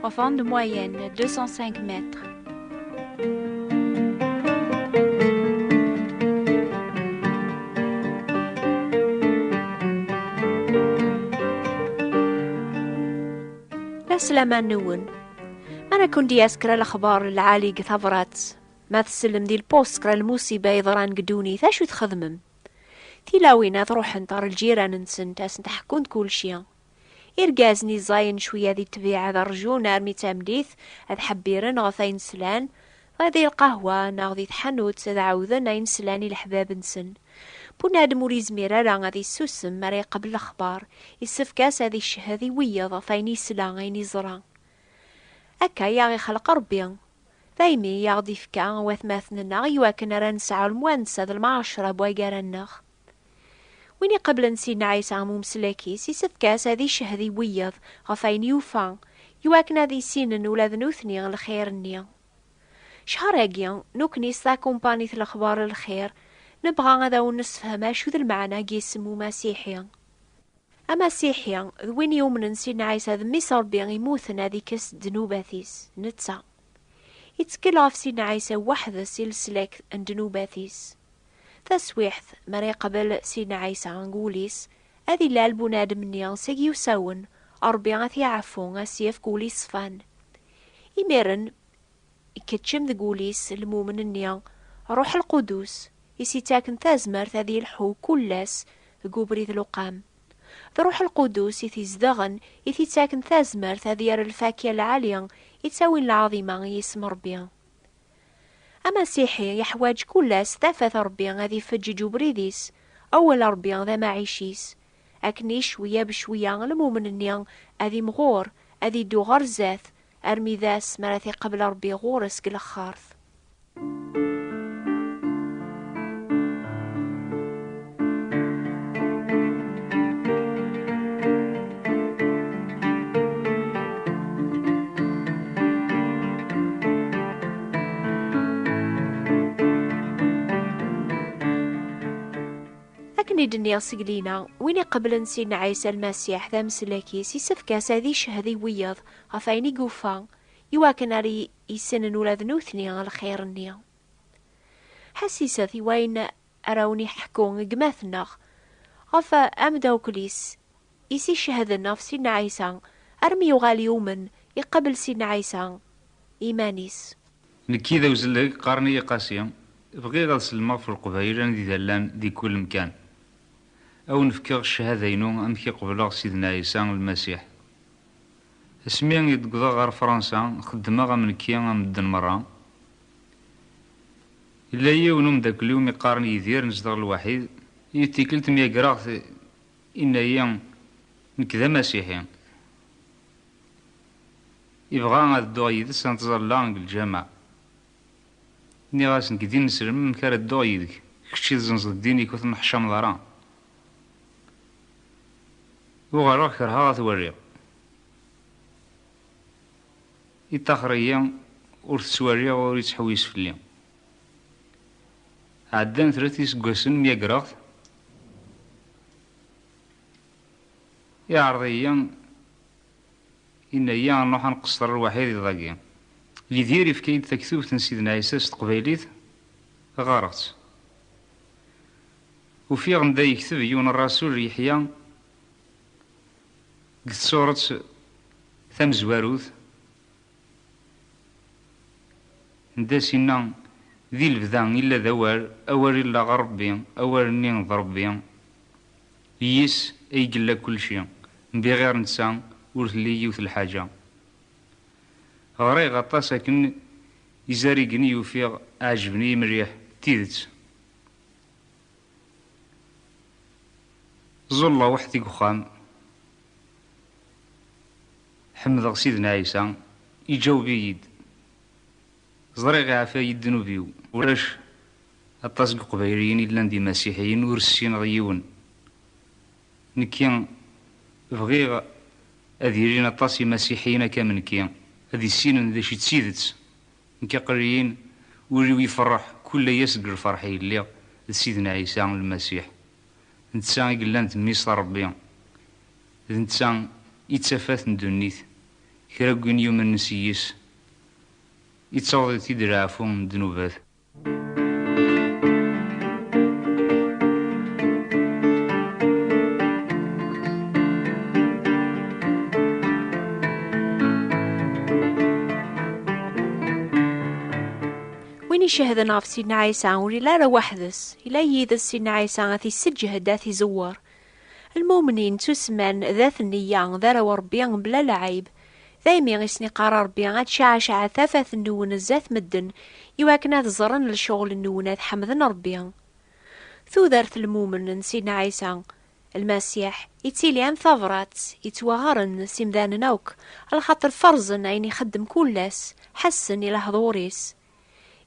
Profond de moyenne 205 mètres. Aslama nwen. Mana kun di askra laxbar lɛali g tabrat. Ma tsellem di lpos skra lmusiba yeḍran g ddunit, acu txedmem? Tilawin ad ruḥent ɣer lǧiran-nsent, ad sent-ḥkunt kulci. Irgazen iẓẓayen cwiya di ṭṭbiɛa ad rjun armi d tameddit, ad ḥebbiren ɣef ayen slan, dɣa di lqahwa neɣ di tḥanut ad ɛawden ayen slan i leḥbab-nsen. Bunadem ur yezmir ara ad yessusem mi ara yeqbel lexbar, yessefk-as ad icehhed i wiyeḍ ɣef ayen yesla, ayen yeẓra. Akka i aɣ-ixleq Rebbi. Daymi i aɣ-d-ifka watmaten-nneɣ iwakken ara nesɛu lemwansa d lmɛaceṛa n waggar-nneɣ. Win iqablen Sidna Ɛisa am umeslak-is, isefk-as ad icehhed i wiyaḍ ɣef wayen yufa, i wakken ad issinen ula d nutni lxir-nni. Ccher-agi, nukni s takumpanit Lexbar n Lxir, nebɣa ad awen-nessefhem acu d lmeɛna n yisem Umasiḥi. Amasiḥi, d win yumnen Sidna Ɛisa d Mmi-s Ṛebbi imuten ad ikkes ddnubat-is, netta. Ittkel ɣef Sidna Ɛisa weḥd-s i leslak n ddnubat-is. Taswiḥt mi ara yeqbel Sidna Ɛisa deg wul-is, ad ilal bunadem-nni seg yiwsawen, Ṛebbi ad t-iɛeffu, ad s-yefk wul yeṣfan. Imiren, ikeččem deg wul-is lmumen-nni Ṛuḥ Lqudus, i s-ittaken tazmert ad yelḥu kull ass deg ubrid luqam. D Ṛuḥ Lqudus i t-izedɣen, i t-ittaken tazmert ad yerr lfakya lɛali, ittawin lɛaḍima i yisem Ṛebbi. Amasiḥi yeḥwaǧ kul ass tafat Ṛebbi ad ifeǧǧeǧ ubrid-is, awal Ṛebbi d amaɛic-is. Akkenni cwiya becwiya lmumen-nni ad imɣur, ad iddu ɣer zdat, armi d ass mi ara t-iqebl Ṛebbi ɣur-s deg lexxart. i d-nniɣ seg lina win iqeblen Sidna Ɛisa Lmasiḥ d ameslak-is yessefk-as ad icehd i wiyaḍ ɣef ayen i yufa iwakken ar yessnen ula d nutni lxir-nni. Ḥassiset i wayen ara awen-iḥekku gma-tneɣ ɣef amdawkel-is i s-icehden ɣef Sidna Ɛisa, armi yuɣal yumen, iqabel Sidna Ɛisa iman-is. Nekki d awzellek, qqaren-iyi Qasi, bɣiɣ ad sellmeɣ ɣef Leqbayel anida llan di kul mkan. Ad awen-fkeɣ ccahada-inu amek i qebleɣ Sidna Ɛisa Lmasiḥ. Asmi i d-wwḍeɣ ɣer Fransa, xeddmeɣ am nekki am medden merra. Yella yiwen umeddakel-iw mi qqaren Yidir nezdeɣ lwaḥid, yiwet tikkelt myagreɣ-t yenna-yi nekk d amasiḥi, yebɣa ad dduɣ yid-s ad nettẓalla deg lǧameɛ. Nniɣ-as nekk d ineslem amek ara dduɣ yid-k, kečč i tzenzeḍ ddin-ik ur tenneḥcameḍ ara. Uɣaleɣ kerheɣ ad t-waliɣ. Yeṭṭaxer-iyi, ur t-ttwaliɣ, ur yettḥewwis fell-i. Ɛeddan tret yiseggasen myagreɣ-t, iɛreḍ-iyi, yenna-yi a nruḥ a nqesṭer lwaḥid iḍ-agi. Yidir yefka-yi-d taktubt n Sidna Ɛisa s teqbaylit, ɣɣareɣ-tt. Ufiɣ anda yekteb yiwen rrasul Yeḥya. Deg tsuret tamezwarut, Ndas inna, Di lebda illa d awal, awal illa ɣer Rebbi, awal-nni d Rebbi, yis ay yella kulci, mbiɣir netta ur telli yiwet lḥaǧa. Ɣriɣ aṭas akken izarigen i ufiɣ ɛejben-iyi mliḥ d tidet. Ẓẓulleɣ weḥd-i deg uxxam. Ḥemdeɣ Sidna Ɛisa, iǧaweb-iyi-d. Ẓriɣ iɛfa-yi ddnub-iw. Ulac aṭas n Yeqbayliyen i llan d Imasiḥiyen ur ssineɣ yiwen. Nekki bɣiɣ ad ilin aṭas Imasiḥiyen akka am nekki, ad issinen d acu i d tidet. Nekk aql-iyi-n, ul-iw ifeṛṛeḥ kullay ass deg lfeṛḥ i lliɣ d Sidna Ɛisa Lmasiḥ. D netta i yellan d Mmi-s n Ṛebbi. D netta i d tafat n ddunit. Kra n win yumnen s yis, ittaweḍ-it-id leɛfu n ddnubat. Win icehden ɣef Sidna Ɛisa ur yella ara weḥd-s, yella yid-s Sidna Ɛisa ad t-isseǧhed, ad t-izewwer. Lmumnin ttusemman d at nneyya, d arraw n Rebbi mebla lɛayb. Daymi i sen-iqqar Rebbi, ad cɛacɛet tafat-nwen zdat medden, i wakken ad ẓren lecɣel-nwen, ad ḥemden Rebbi. Tudert n lmumen n Sidna Ɛisa Lmasiḥ ittili am tabrat yettwaɣren s imdanen akk, lxaṭer ferzen ayen ixeddem kul ass, ḥessen i lehḍur-is.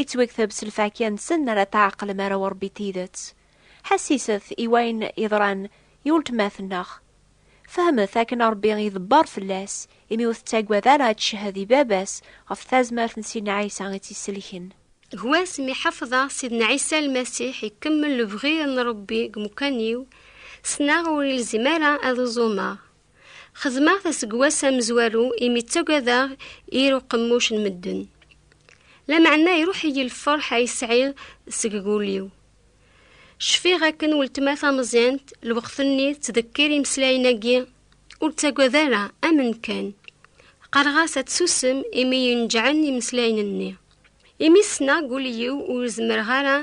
Ittwekteb s lfakya-nsen ara tɛeqlem arraw n Ṛebbi n tidet. Ḥassiset i wayen yeḍran i weltma-tneɣ. Fehmet akken Ṛebbi iḍebber fell-as imi ur tettagad ara ad tcehhed i Baba-s ɣef tazmert n Sidna Ɛisa i tt-isellken. Gwas mi ḥafḍeɣ Sidna Ɛisa Lmasiḥ ikemmel lebɣi n Ṛebbi deg umkan-iw, ssneɣ ur ilzim ara ad uẓumeɣ. Xedmeɣ-t aseggas amezwaru imi ttagadeɣ ir uqemmuc n medden. Lameɛna iruḥ-iyi lferḥ ay sɛiɣ seg wul-iw. Cfiɣ akken weltma tameẓyant lweqt-nni tettdekkir imeslayen-agi, Ur ttagad ara, amen kan. Qqareɣ-as ad tsusem imi yenǧɛen imeslayen-nni. Imi ssneɣ deg wul-iw ur zemreɣ ara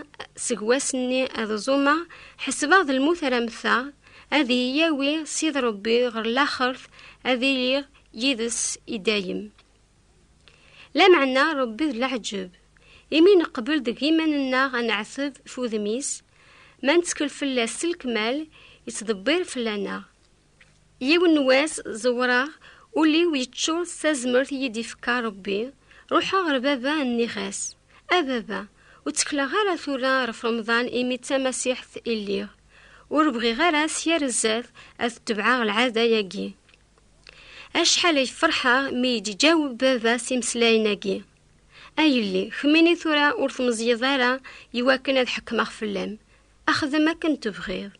seg wass-nni ad ẓumeɣ, ḥesbeɣ d lmut ara mmteɣ, ad iyi-yawi Ssid Ṛebbi ɣer laxert, ad iliɣ yid-s i dayem. Lameɛna Ṛebbi d leɛǧeb, imi neqbel deg yiman-nneɣ ad neɛteb f udem-is, ma nettkel fell-as s lekmal, yettḍebbir fell-aneɣ. Yiwen n wass ẓewreɣ, ul-iw yeččur s tazmert i yi-d-ifka Rebbi, ruḥeɣ ɣer baba nniɣ-as, A baba, ur ttekleɣ ara tura ɣef Remḍan imi d tamasiḥt i lliɣ, ur bɣiɣ ara s yir zzat ad tebɛeɣ lɛada-agi. Acḥal ay ferḥeɣ mi yi-d-iǧaweb baba s imeslayen-agi, A yelli, kemmini tura ur tmeẓyeḍ ara i wakken ad ḥekmeɣ fell-am, xdem akken tebɣiḍ.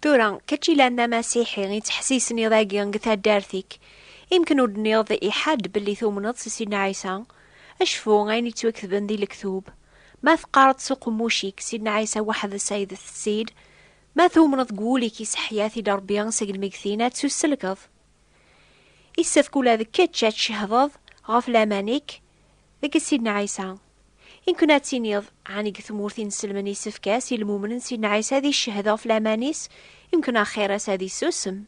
Tura, kečč yellan d amasiḥi, i ttḥessisen-iḍ agi deg taddart-ik, imken ur d-nniḍ i ḥadd belli tumneḍ s Sidna Ɛisa? Cfu ayen yettwaketben di lektub, Ma teqqareḍ s uqemmuc-ik, Sidna Ɛisa weḥd-s ay d Ssid, ma tumneḍ deg wul-ik iseḥya-t-id Rebbi seg lmegtin, ad tt-usselkeḍ. Yessefk ula d kečč ad tcehdeḍ ɣef laman-ik deg Sidna Ɛisa. I nkun ad tiniḍ, ɛni deg tmurt i nselmen isefk-as i lmumnen Sidna Ɛisa ad iccehhed ɣef laman-is, i nkun axir-as ad issusem?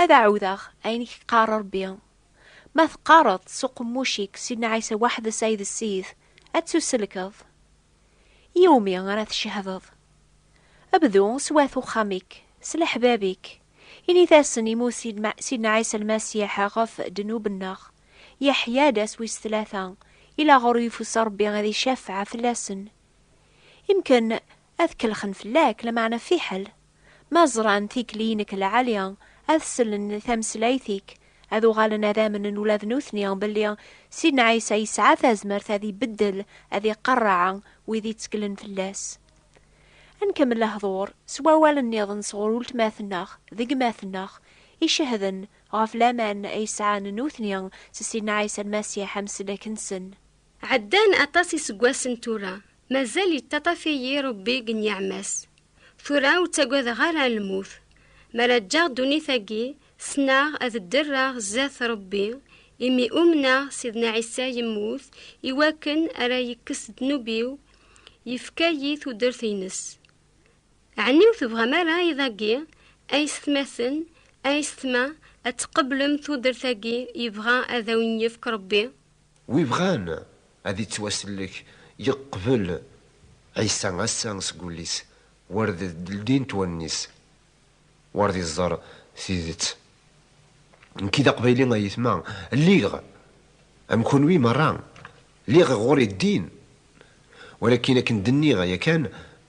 Ad ɛuwdeɣ ayen i k-iqqar Rebbi. Ma teqqareḍ s uqemmuc-ik Sidna Ɛisa weḥd-s ay d Ssid, ad ttuselkeḍ. I wumi ara tcehdeḍ? Bdu s wat uxxam-ik, s leḥbab-ik. Init-asen, Immut Sidna Ɛisa Lmasiḥ ɣef ddnub-nneɣ. Yeḥya-d ass wis tlata, ilaɣur yufus Ṛebbi ad icafeɛ fell-asen. Imken ad kellxen fell-ak, lameɛna fiḥel! Ma ẓran tikli-inek lɛali, ad sellen i tameslayt-ik, ad uɣalen ad amnen ula d nutni belli Sidna Ɛisa yesɛa tazmert ad ibeddel, ad iqerreɛ wid itteklen fell-as. Ad nkemmel lehdur s wawal-nniḍen sɣur uletma-tneɣ d gma-tneɣ, icehden Ɣef laman ay sɛan nutni s Sidna Ɛisa Lmasiḥ amsellek-nsen. Ɛeddan aṭas iseggasen tura, mazal yettaṭṭaf-iyi Rebbi deg nniɛma-s. Tura ur ttagadeɣ ara lmut. Mi ara ǧǧeɣ ddunit-agi, ssneɣ ad ddreɣ sdat Rebbi, imi umneɣ Sidna Ɛisa yemmut i wakken ara yekkes ddnub-iw, yefka-iyi tudert-nnes. Ɛni ur tebɣam ara i dagi, a yessetmaten, a yessetma, ad tqeblem tudert-agi yebɣa ad awen-yefk Rebbi? Wi bɣan ad ittwasellek yeqbel Ɛisa ass-a seg wullis, war d ldint wallen-is, war d iẓer tidet. Nekki d aqbayli a yetma, lliɣ am kunwi merra, lliɣ ɣur-i ddin, walakin akken d-nniɣ yakan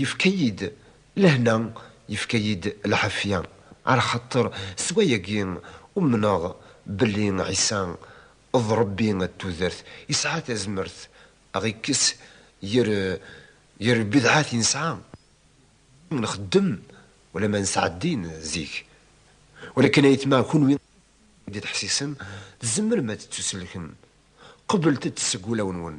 Yefka-yi-d lehna, yefka-yi-d lɛafya, ɛla xaṭer s wayagi umneɣ belli Ɛisa d Ṛebbi n tudert, yesɛa tazmert a ɣ-ikkes ger ger lbidɛat i nesɛa, imi nxeddem ulamma nesɛa ddin zik. Walakin ayetma kunwi i d-teḥsisem tzemrem ad tettusellkem, qeblet-t seg wulawen-nwen,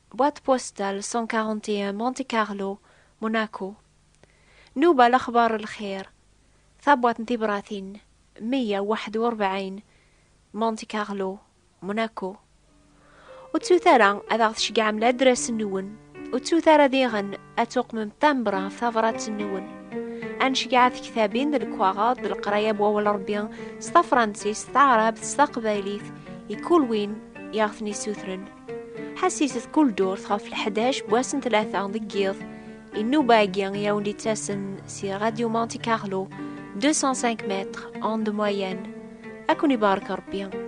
Boîte postale 141 Monte Carlo Monaco Nuba Lexbar Lxir Tabwaṭ n tibratin 141 Monte Carlo Monaco Ur ttut ara ad aɣ-tceggɛem ladras-nwen, ur ttut ara diɣen ad tuqmem timbre ɣef tabṛat-nwen. Ad nceggeɛ tektabin d lekwaɣeḍ d leqraya n Wawal n Ṛebbi s tafṛansist, taɛṛabt, s taqbaylit, i kul win i aɣ-ten-isutren. Ḥassiset kul durt ɣef leḥdac n wass n tlata deg yiḍ. Inuba-agi i awen-d-ittasen si Radio Monte Carlo, 205 mètres, onde moyenne. Ad ken-ibarek Rebbi.